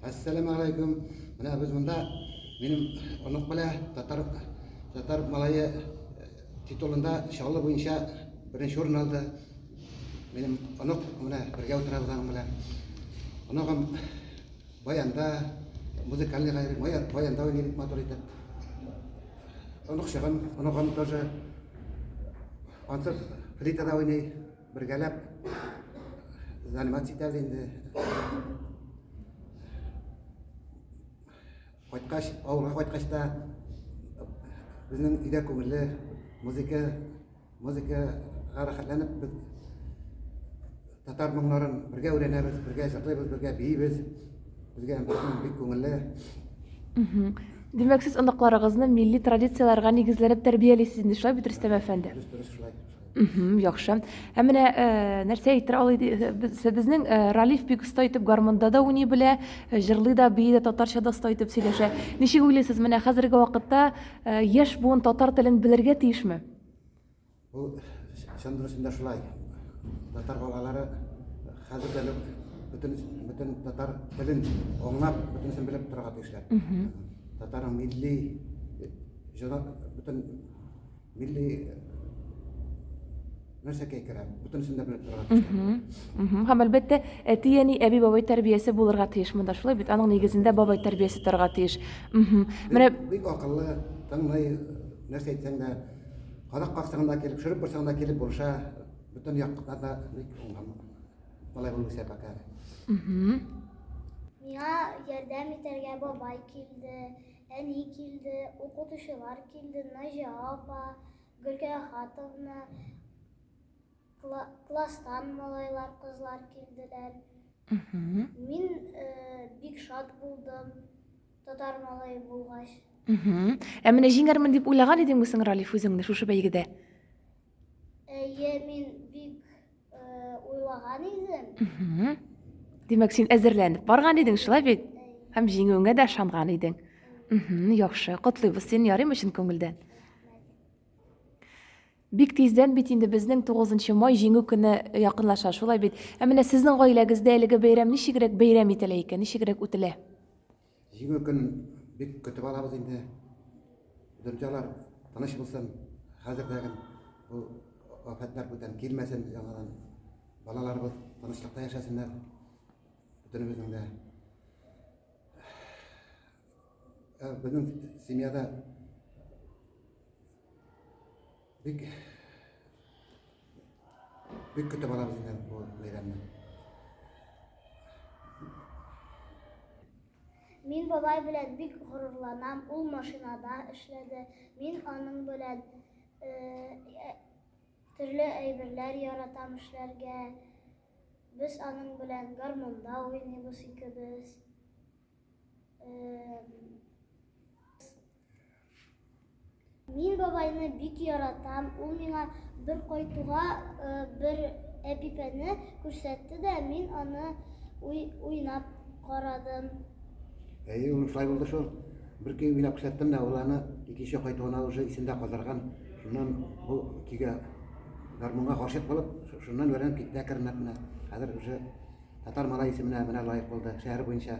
Әссәләмә алейкум. Менә без монда минем онык белә татар татар малае э, титулында чаллы буенча беренче урын алды. Минем онык менә бергә утырабыз аның белән. Оныгым баянда музыкальный гайри баянда уйный бик матур итеп. Оныкчыгым, оныгым тоже ансыз флейтада уйный. Бергәләп заниматься итәбез инде. Кайткач, авылга кайткач та безнең өйдә күңелле музыка, музыка рәхәтләнеп без татар моңнарын бергә өйрәнәбез, бергә җырлыйбыз, бергә биибез. Безгә бик күңелле. Димәк, сез оныкларыгызны милли традицияләргә нигезләнеп тәрбиялисез инде, шулай бит, Рөстәм әфәнде? Дөрес, дөрес, шулай. Мгм, яхшы. Ә менә э, нәрсә әйтер алый ди- э, без- безнең э, Ралиф бик оста итеп гармунда да уйный белә, э, җырлый да, бии дә, татарча да оста итеп сөйләшә. Ничек уйлыйсыз, менә хәзерге вакытта э, яшь буын татар телен белергә тиешме? Ул чын дөресендә шулай. Татар балалары хәзер дә бөтен бөтен татар телен аңлап, бөтенесен белеп торырга тиешләр. Татарның милли җыры бөтен Милли нәрсәкәй керә, бөтенесен дә белеп торырга тиеш. Һәм әлбәттә, әти-әни, әби-бабай тәрбиясе булырга тиеш монда. Шулай бит, аның нигезендә бабай тәрбиясе торырга тиеш. Менә бик акыллы, тыңлый, нәрсә әйтсәң дә, карак баксаң да килеп, шөреп барсаң да килеп булыша, бөтен яктан да бик уңган. Малай булып үсә пока. Миңа ярдәм итәргә бабай килде. Әни килде, укытучылар килде, Наҗия апа, Гөлкә Ахатовна, класстан малайлар, кызлар килделәр. Мин бик шат булдым, татар малае булгач. Ә менә җиңәрмен дип уйлаган идеңме соң, Ралиф, үзеңне шушы бәйгедә? Әйе, мин бик э, уйлаган идем. Мгм. Димәк, син әзерләнеп барган идең, шулай бит? Һәм җиңүеңә дә ышанган идең. Мгм, яхшы. Котлыйбыз сине ярыймы чын күңелдән? Бик тиздән бит инде безнең 9 май җиңү көне якынлаша, шулай бит? Ә менә сезнең гаиләгездә әлеге бәйрәм ничегрәк бәйрәм ителә икән, ничегрәк үтелә? Җиңел көн бик көтеп алабыз инде. Дөньялар тыныч булсын. Хәзердәген бу афәтләр бүтән килмәсен яңадан. Балаларыбыз тынычлыкта яшәсеннәр. Бөтенебезнең дә. Ә, безнең семьяда Бик бик көтә барабыз инде бу бәйрәмне. Мин бабай белән бик горурланам. Ул машинада эшләде. Мин аның белән э, төрле әйберләр яратам эшләргә. Без аның белән гармунда уйныйбыз икебез. Э, Мин бабайны бик яратам. Ул миңа бер кайтуга э, бер әпипәне күрсәтте дә, мин аны уй, уйнап карадым. Әйе, ул шулай булды шул. Бер көй уйлап күрсәттем дә, ул аны икенче кайтуына уже исендә калдырган. Шуннан бу көйгә гармунга гашыйк булып, ш- шуннан өйрәнеп китте әкренләп менә. Хәзер уже татар малай исеменә менә лаек булды. Шәһәр буенча